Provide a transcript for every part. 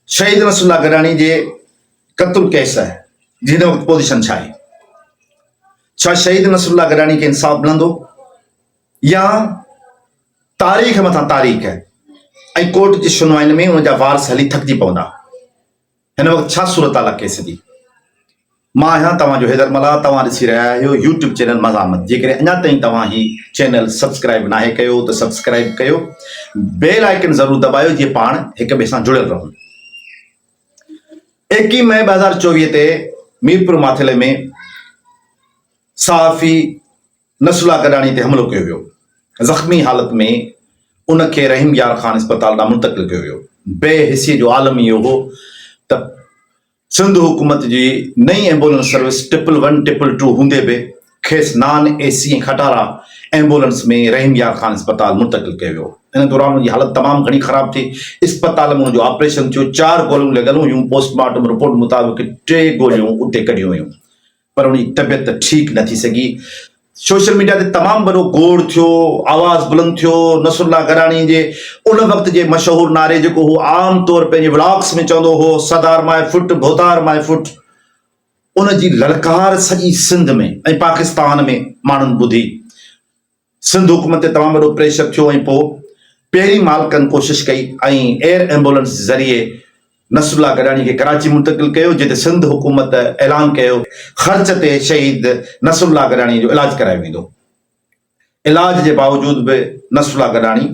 شهيد نصر الله گڏاڻي جي قتل ڪيس جي هن وقت پوزيشن ڇا آهي؟ ڇا شهيد نصر الله گڏاڻي کي انصاف ملندو يا تاريخ مٿان تاريخ ۽ ڪورٽ جي شنوائن ۾ ان جا وارث هلي ٿڪجي پوندا هن وقت ڇا صورتحال آ ڪيس جي مان آهيان توهان جو حيدر ملاح توهان ڏسي رهيا آهيو يوٽيوب چينل مزاحمت جيڪڏهن اڃا تائين توهان هي چينل سبسڪرائب ناهي ڪيو ته سبسڪرائب ڪيو بيل آئيڪن ضرور دٻايو جيئن پاڻ هڪ ٻئي سان جڙيل رهون ايڪيهن مئي ٻه هزار چوويهه تي ميرپور ماٿيلي ۾ صحافي نسلا گڏاڻي تي حملو ڪيو ويو زخمي حالت ۾ ان کي رحيم يار خان اسپتال ڏانهن منتقل ڪيو ويو بي حسي جو عالم اهو هو ته سنڌ حڪومت جي نئين ambulance service triple one triple two هوندي به کيس نان اي سي ۽ کٽارا ايمبولنس ۾ رحيم يار خان اسپتال منتقل ڪيو ويو. ان دوران هن جي حالت تمام گهڻي خراب ٿي، اسپتال ۾ هن جو آپريشن ٿيو، چار گوليون لڳل هيون، پوسٽ مارٽم رپورٽ مطابق ٽي گوليون اتي ڪڍيون ويون. پر ان جي طبيعت ٺيڪ نه ٿي سگهي. سوشل ميڊيا تي تمام وڏو گوڙ ٿيو، آواز بلند ٿيو، نصرالله گراڻي جي ان وقت جي مشهور نعري جيڪو هو عام طور پنهنجي ولاگس ۾ چوندو هو سدار ماء فٽ ڀوتار ماء فٽ ان جي للڪار سڄي سنڌ ۾ ۽ پاڪستان ۾ ماڻهن ٻڌي. سنڌ حڪومت تي تمام وڏو پريشر ٿيو ۽ پوء پيري مالڪن ڪوشش ڪئي ۽ ايئر ايمبولنس ذريعي نصر الله گڏاڻي کي ڪراچي منتقل ڪيو جتي سنڌ حڪومت اعلان ڪيو خرچ تي شهيد نصر الله گڏاڻي جو علاج ڪرايو ويندو علاج جي باوجود به نصر الله گڏاڻي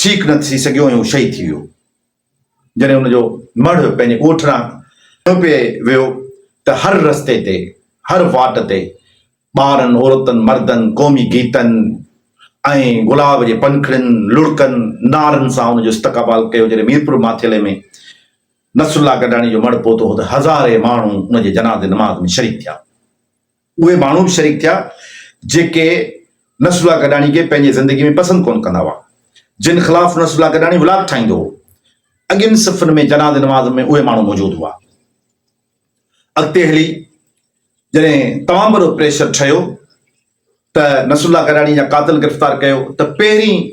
ٺيڪ نه ٿي سگهيو ۽ هو شهيد ٿي ويو. جڏهن ان جو مڙهه پنهنجي ڳوٺ ڏانهن ڪنڌ پيئي ويو ته هر رستي تي، هر واٽ تي ٻارن، عورتن، مردن قومي گيتن ۽ گلاب جي پنکڙين، لڙڪن، نعرن سان ان جو استقبال ڪيو. جڏهن ميرپور ماٿيلي ۾ نصرالله گڏاڻي جو مڙهه پهتو هو ته هزارين ماڻهو ان جي جنازي نماز ۾ شريڪ ٿيا. اهي ماڻهو به شريڪ ٿيا جيڪي نصر الله گڏاڻي کي پنهنجي زندگي ۾ پسند ڪونه ڪندا هئا، جن خلاف نصر الله گڏاڻي ولاگ ٺاهيندو هو، اڳين صفن ۾ جنازي نماز ۾ اهي ماڻهو موجود هئا. اڳتي هلي جڏهن تمام وڏو پريشر ٺهيو ته نصر الله گڏاڻي جا قاتل گرفتار ڪيو ته پهرين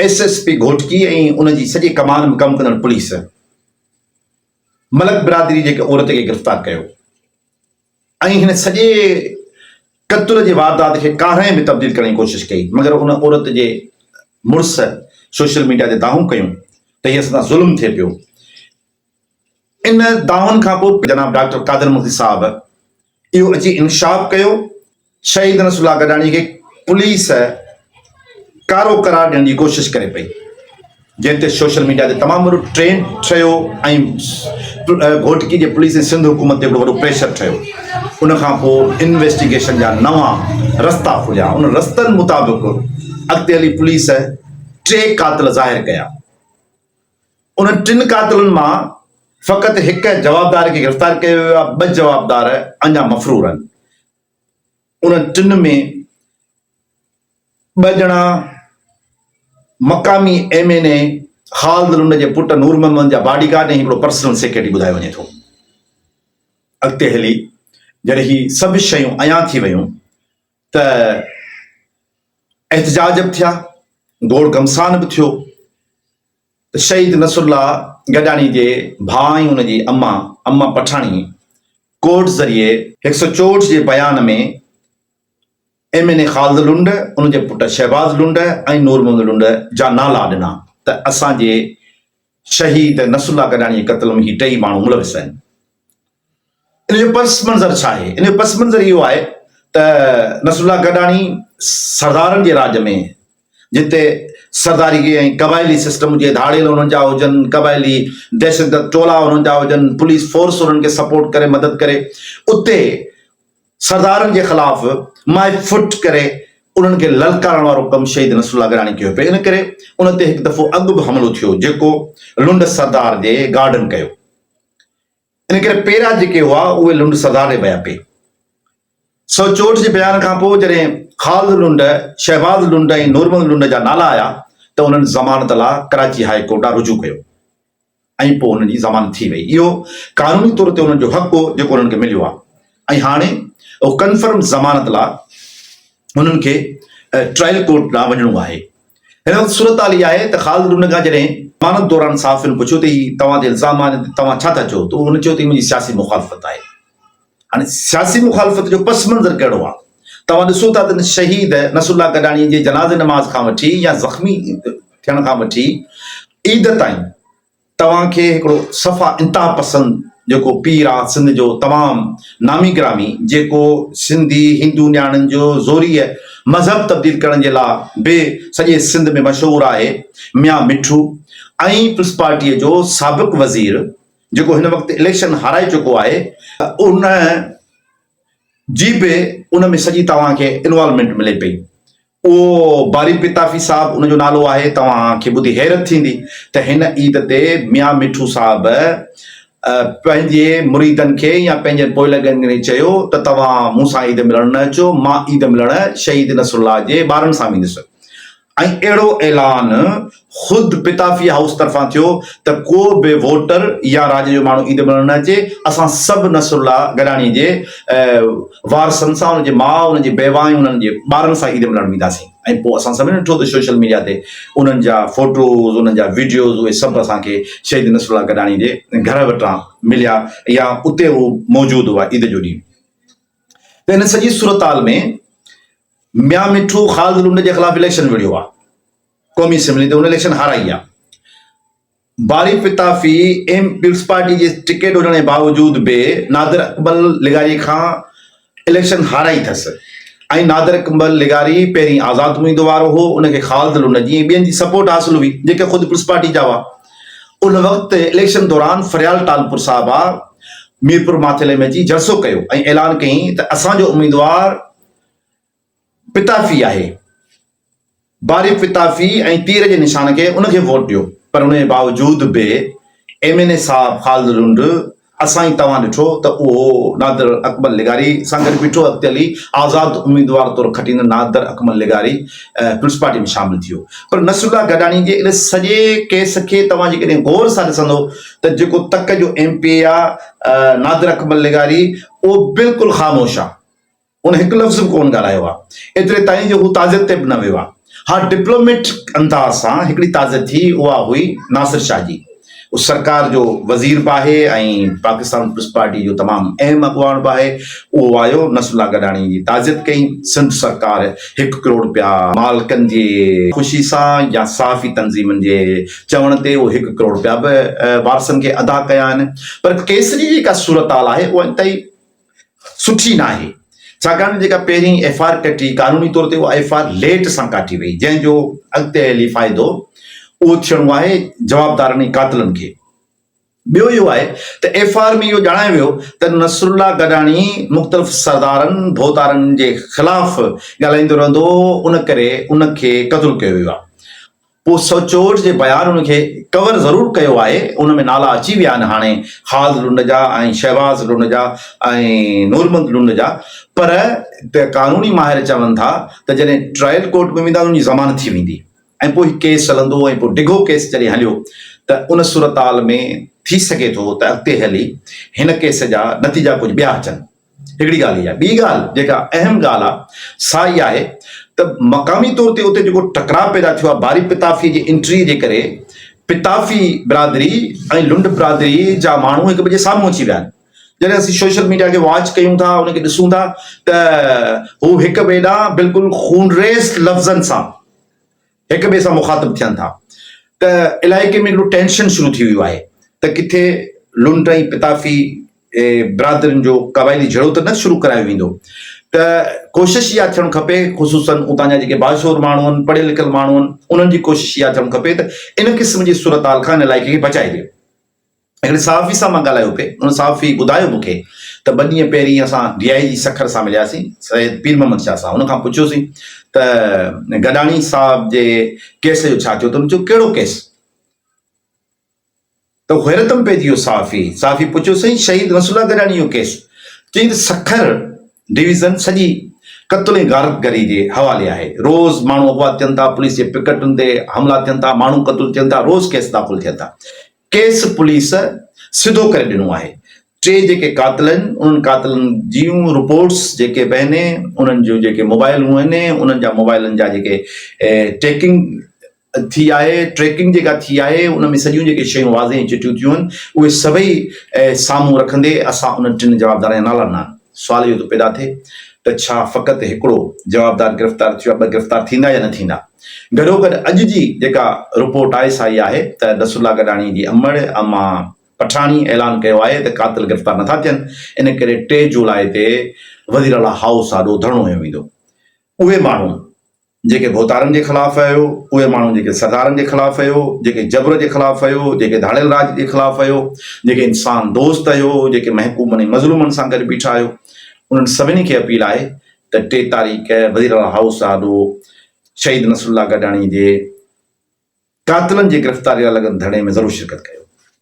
ايس ايس پي گهوٽڪي ۽ ان جي سڄي ڪمان ۾ ڪم ڪندڙ پوليس ملڪ برادري جي هڪ عورت کي گرفتار ڪيو. ۽ هن سڄي قتل جي واردات کي ڪارنهن ۾ تبديل ڪرڻ جي ڪوشش ڪئي مگر ان عورت جي مڙس سوشل ميڊيا تي دانهون ڪيون ته هي اسان سان ظلم ٿئي پيو ان دانهن کانپوء جناب ڊاڪٽر قادر مگسي صاحب اهو اچي انڪشاف ڪيو. شهيد نصر الله گڏاڻي کي پوليس ڪارو قرار ڏيڻ جي ڪوشش ڪري پئي جنهن تي سوشل ميڊيا تي تمام وڏو ٽرينڊ ٺهيو ۽ گهوٽڪي جي پوليس ۽ سنڌ حڪومت تي وڏو پريشر ٺهيو ان کان پوء انويسٽيگيشن جا نوان رستا کليا ان رستن مطابق اڳتي هلي پوليس ٽي قاتل ظاهر ڪيا ان ٽن قاتلن مان فقط هڪ جوابدار کي گرفتار ڪيو ويو آهي ٻه جوابدار اڃا مفرور آهن انهن ٽن ۾ ٻه ڄڻا مقامي M N A Khalid Lund جي پٽ نور محمد جا باڊي گارڊ ۽ هڪڙو پرسنل سيڪريٽري ٻڌايو وڃي ٿو. اڳتي هلي جڏهن هي سڀ شيون عيان ٿي ويون ته احتجاج به ٿيا، گوڙ گهمسان به ٿيو ته شهيد نصرالله گڏاڻي جي ڀاء ۽ ان جي امان امان پٺاڻي ڪورٽ ذريعي هڪ سؤ چوهٺ جي بيان ۾ M N A Khalid Lund, ان جي پٽ شهباز لنڊ ۽ نور محمد لنڊ جا نالا ڏنا ته اسان جي شهيد نصرالله گڏاڻي جي قتل ۾ هي ٽئي ماڻهو ملوث آهن. ان جو پس منظر ڇا آهي؟ ان جو پس منظر اهو آهي ته نصرالله گڏاڻي سردارن جي راڄ ۾ جتي سرداريء ۽ قبائلي سسٽم جي ڌاڙيل انهن جا هجن، قبائلي دهشتگرد ٽولا انهن جا هجن، پوليس فورس انهن کي سپورٽ ڪري، مدد ڪري، اتي سردارن جي خلاف مائي ڦٽ ڪري انهن کي للڪارڻ وارو ڪم شهيد نصر الله گراڻي ڪيو پئي. ان ڪري ان تي هڪ دفعو اڳ به حملو ٿيو، جيڪو لنڊ سردار جي گارڊن ڪيو. ان ڪري پيرا جيڪي هئا اهي لنڊ سڌاري ويا پي سو چوٽ جي بيان کان پوء جڏهن خالد لنڊ، شهباز لنڊ ۽ نورمل لنڊ جا نالا آيا ته انهن ضمانت لا ڪراچي هاء ڪورٽ ڏانهن رجوع ڪيو ۽ پوء انهن جي ضمانت ٿي وئي اهو قانوني طور تي انهن جو حق هو جيڪو انهن کي مليو آ. ۽ هاڻي اهو ڪنفرم ضمانت لا هنن کي ٽرائل ڪورٽ ڏانهن وڃڻو آهي. هن وقت صورتحال اها آهي ته خالد ڊون کان جڏهن ضمانت دوران صحافين پڇيو ته هي توهان تي الزام آهن تي توهان ڇا ٿا چئو ته هن چيو ته هي منهنجي سياسي مخالفت آهي. هاڻي سياسي مخالفت جو پس منظر ڪهڙو آهي توهان ڏسو ٿا ته شهيد نصر الله گڏاڻي جي جنازي نماز کان وٺي يا زخمي ٿيڻ کان وٺي عيد تائين توهان کي هڪڙو صفا انتها پسند جيڪو پير آ سنڌ جو تمام نامي گرامي جيڪو سنڌي هندو نياڻين جو زوريء مذهب تبديل ڪرڻ جي لا به سڄي سنڌ ۾ مشهور آهي ميان مٺو ۽ پلسپارٽيء جو سابق وزير جيڪو هن وقت اليڪشن هارائي چڪو آهي ان جي به ان ۾ سڄي توهان کي انوالومينٽ ملي پئي اهو باري پتافي صاحب ان جو نالو آهي. توهان کي ٻڌي حيرت ٿيندي ته هن عيد تي ميان مٺو صاحب پنهنجي مريدن کي يا پنهنجن پوئلڳن کي چيو ته توهان مون سان عيد ملڻ نه اچو، مان عيد ملڻ شهيد نصرالله جي ٻارن سان ويندس ۽ اهڙو اعلان خود پتافي هائوس طرفان ٿيو ته ڪو به ووٽر يا راڄ جو ماڻهو عيد ملهڻ نه اچي، اسان سڀ نصرالله گڏاڻي جي وارثن سان، هن جي ماء، هن جي بيوه ۽ هنن جي ٻارن سان عيد ملهڻ وينداسين ۽ پوء اسان سڀني ڏٺو ته سوشل ميڊيا تي انهن جا فوٽوز، انهن جا وڊيوز اهي سڀ اسان کي شهيد نصرالله گڏاڻي جي گهر وٽان مليا يا اتي هو موجود هئا عيد جو ڏينهن ته ان سڄي صورتحال ۾ ميان مٺو خالد لنڊ جي خلاف اليڪشن وڙهيو آهي. قومي اسيمبلي تي هن اليڪشن هارائي آ. باري پتافي ايم پيپلزپارٽي جي ٽڪيٽ هجڻ جي باوجود به نادر اڪمل لغاري کان اليڪشن هارائي ٿس ۽ نادر اڪمل لغاري پهرين آزاد اميدوار هو ان کي خالد لونجي ۽ ٻين جي سپورٽ حاصل هئي جيڪي خود پيپلزپارٽي جا هئا ان وقت اليڪشن دوران فريال ٽالپور صاحب آ ميرپور ماٿيلي ۾ اچي جلسو ڪيو ۽ اعلان ڪيائين ته اسان جو اميدوار پتافي آهي باري پتافي ۽ تير جي نشان کي ان کي ووٽ ڏيو پر ان جي باوجود به ايم اين اي صاحب خالد لنڊ اسان ۽ توهان ڏٺو ته اهو نادر اڪمل لغاري سان گڏ بيٺو اڳتي هلي آزاد اميدوار طور کٽيندڙ نادر اڪمل لغاري پيپلز پارٽي ۾ شامل ٿيو پر نصرالله گڏاڻي جي ان سڄي ڪيس کي توهان جيڪڏهن غور سان ڏسندو ته جيڪو تڪ جو ايم پي اي آهي نادر اڪمل لغاري اهو بلڪل خاموش آهي هن هڪ لفظ به ڪونه ڳالهايو آ، ايتري تائين جو هو تعزيت تي به نه ويو آ. ها ڊپلوميٽ انداز سان هڪڙي تعزيت ٿي اها هئي ناصر شاهه جي. هو سرڪار جو وزير به آهي ۽ پاڪستان پيپلز پارٽي جو تمام اهم اڳواڻ به آهي. اهو آيو نصر الله گڏاڻي جي تعزيت ڪئي. سنڌ سرڪار هڪ ڪروڙ رپيا مالڪن جي خوشي سان يا صحافي تنظيمن جي چوڻ تي اهي هڪ ڪروڙ رپيا به وارثن کي ادا ڪيا آهن پر ڪيس جي جيڪا صورتحال آهي اها انتهائي سٺي ناهي ڇاڪاڻ ته جيڪا پهرين ايف آر ڪٽي قانوني طور تي اها ايف آر ليٽ سان ڪاٽي وئي جنهن جو اڳتي هلي فائدو اهو ٿيڻو آهي جوابدارن ۽ قاتلن کي ٻيو اهو آهي ته ايف آر ۾ اهو ڄاڻايو ويو ته نصر الله گڏاڻي مختلف سردارن ڀوتارن جي خلاف ڳالهائيندو رهندو هو ان ڪري ان کي قتل ڪيو ويو آهي پوء سوچوٽ جي بيان ان کي ڪور ضرور ڪيو آهي، ان ۾ نالا اچي ويا آهن هاڻي خالد لنڊ جا ۽ شهباز لنڊ جا ۽ نورمند لنڊ جا پر قانوني ماهر چون ٿا ته جڏهن ٽرائل ڪورٽ ۾ ويندا ته ان جي ضمانت ٿي ويندي ۽ پوء هي ڪيس هلندو ۽ پوء ڊگهو ڪيس جڏهن هليو ته ان صورتحال ۾ ٿي سگهي ٿو ته اڳتي هلي هن ڪيس جا نتيجا ڪجهه ٻيا اچن. هڪڙي ڳالهه هي آهي، ٻي ڳالهه جيڪا اهم ڳالهه آهي سا هي آهي ته مقامي طور تي اتي جيڪو ٽڪراء پيدا ٿيو آهي باري پتافي جي انٽري جي ڪري پتافي برادري ۽ لنڊ برادري جا ماڻهو هڪ ٻئي جي سامهون اچي ويا آهن جڏهن اسين سوشل ميڊيا کي واچ ڪيون ٿا ان کي ڏسون ٿا ته هو هڪ ٻئي ڏانهن بلڪل خونريز لفظن سان هڪ ٻئي سان مخاطب ٿين ٿا ته علائقي ۾ هڪڙو ٽينشن شروع ٿي ويو آهي ته ڪٿي لنڊ ۽ پتافي برادرين جو قبائلي جهيڙو ته نه شروع ڪرايو ويندو ته ڪوشش اها ٿيڻ کپي خصوصن اتان جا جيڪي باشعور ماڻهو آهن پڙهيل لکيل ماڻهو آهن انهن جي ڪوشش اها ٿيڻ کپي ته ان قسم جي صورتحال کان ان علائقي کي بچائجي. هڪڙي صحافي سان مان ڳالهايو پئي، ان صحافي ٻڌايو مون کي ته ٻه ڏينهن پهرين اسان ڊي آء جي سکر سان ملياسين سيد پير محمد شاهه سان، ان کان پڇيوسين ته گڏاڻي صاحب جي ڪيس جو ڇا ٿيو ته هن چيو ڪهڙو ڪيس؟ ته حيرت ۾ پئجي ويو صحافي، صحافي پڇيو سائين شهيد نصر الله گڏاڻي جو ڪيس؟ چيائين ته سکر ڊويزن سڄي قتل ۽ غارت گري جي حوالي آهي، روز ماڻهو اغوا ٿين ٿا، پوليس جي پڪٽن تي حملا ٿين ٿا، ماڻهو قتل ٿين ٿا، روز ڪيس داخل ٿين ٿا. ڪيس پوليس سڌو ڪري ڏنو آهي، ٽي جيڪي قاتل آهن انهن قاتلن جيون رپورٽس جيڪي به آهن انهن جون جيڪي موبائلون آهن انهن جا موبائلن جا جيڪي ٽيڪنگ ٿي آهي ٽريڪنگ جيڪا ٿي آهي ان ۾ سڄيون جيڪي شيون واضح ۽ چٽيون ٿيون آهن اهي سڀئي سامهون رکندي اسان انهن ٽن جوابدارن جا نالا نه سوال اهو ٿو پيدا ٿئي ته ڇا فقط هڪڙو جوابدار گرفتار ٿيو آهي، ٻه گرفتار ٿيندا يا نه ٿيندا؟ گڏوگڏ اڄ جي جيڪا رپورٽ آهي سا اها آهي ته نصرالله گڏاڻي جي امڙ اما پٺاڻي اعلان ڪيو آهي ته قاتل گرفتار نٿا ٿين ان ڪري ٽي جولاء تي وزيراعليٰ هائوس آڏو ڌرڻو هنيو ويندو اهي ماڻهو جيڪي ڀوتارن جي خلاف ھيو، اھي ماڻھو جيڪي سردارن جي خلاف ھيو، جيڪي جبر جي خلاف ھيو، جيڪي ڌاڙيل راڄ جي خلاف ھيو، جيڪي انسان دوست ھيو، جيڪي محڪومن ۽ مظلومن سان گڏ بيٺا ھيو، انھن سڀني کي اپيل آھي ته ٽي تاريخ وزيراعليٰ ھائوس آڏو شھيد نصرالله گڏاڻي جي قاتلن جي گرفتاري لاء لڳل ڌرڻي ۾ ضرور شرڪت ڪيو.